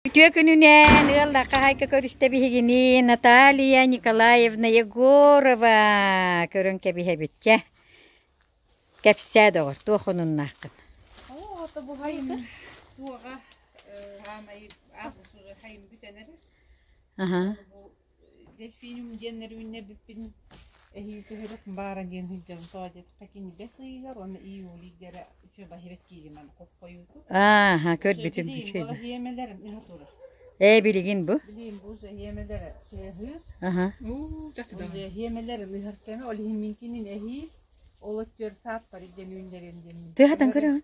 Үтүө күнүнэн ыаллар хаһайка көрүстэ биһигини Наталья Николаевна Егорова көрөн кэбиһэбитке. Кэпсээ доҕор, туох онуннааххын? Оо, то буһайын туоҕа хаамай аапсура хайым бүтэнэрэ. Аха. Дельфинум диэн нөрүннэрбиппин эһии көһөрүк баара диэн сылдьабын соодьетохо кинигэс ыйыгар уонна июлийга эрэ үчүгэй баһыыбат киинэм хоппойуутум. Ааха, көрбүтүм бу эһиэмэлэрим ыһа турар. Ээ билигин бу? Билигин бу эһиэмэлэрэ тыаһыыр. Аха. Уу, чахчы да. Эһиэмэлэрин ыһар кэмэ ол иһин мин кинин эһии ол өттүгэр саат пари диэн үүннэрин диэн. Тыаһатан көрөҕүн?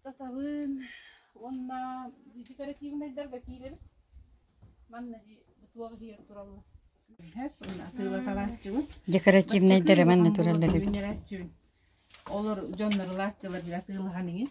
Статалыын уонна декоративнайдарга киирэбит. Манна бутуох иһигэр тураллар. Декоративнайдары манна тураллар эбит. Олор дьоннор ылааччылар била тыылахан иҥин.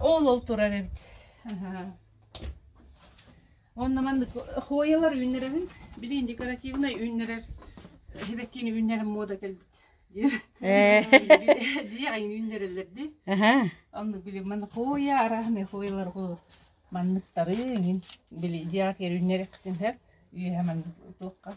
Ол-ол турар эбит. Онно манна хойылар үүннэрэрин, билин декоративнай үүннэрэр хибеккини үүннэрэн мода кэлбит. Диэҕин үүннэрэллэрди. Онну били маны хойя араһны хойылар ху манныктары ин били диэҕ кер үүннэрэхтин хэр үйэһэ маннык туохха.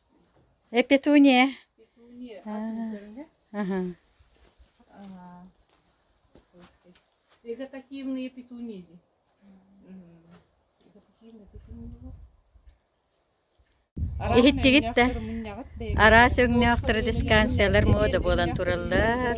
Петуния иһиттигит да араас өҥнөөхтөр дискансиялар муода буолан тураллар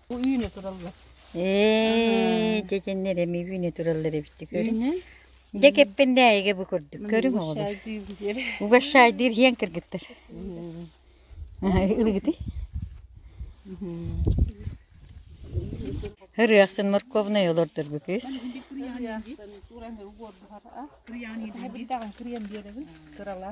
Бу үүнэ тураллар. Ээ, дьэдьэннэр эми үүнэ тураллар эбитти көрүҥ. Үүнэ? Дьэ кэппэндээйигэ бу курдук. Көрүҥ оҕолор. Угощайдыыр иһэн кыргыттар. Ылыгыты? Ырыахсын морковнай олордор бу кыс. Кырыян биэребин. Кырала.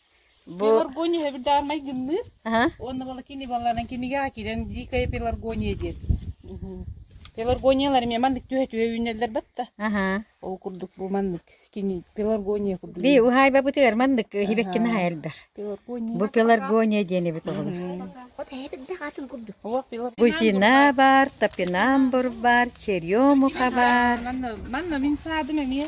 Пеларгония сабырдаамай гынныыр уонна волокини балланан кинигэҕэ киирэн дикая пеларгония диэн Пеларгониялар эмиэ маннык түһэ-түһэ үүнэллэр батта. Ол курдук бу маннык кини пеларгония курдук. Би уһаайбабытыгар маннык хибеккин хайырдах. Пеларгония. Бу пеларгония диэн эбит оҕолор. От эһэбирдэх атын курдук. Бузина бар, топинамбур бар, черемуха бар. Манна мин саадым эмиэ.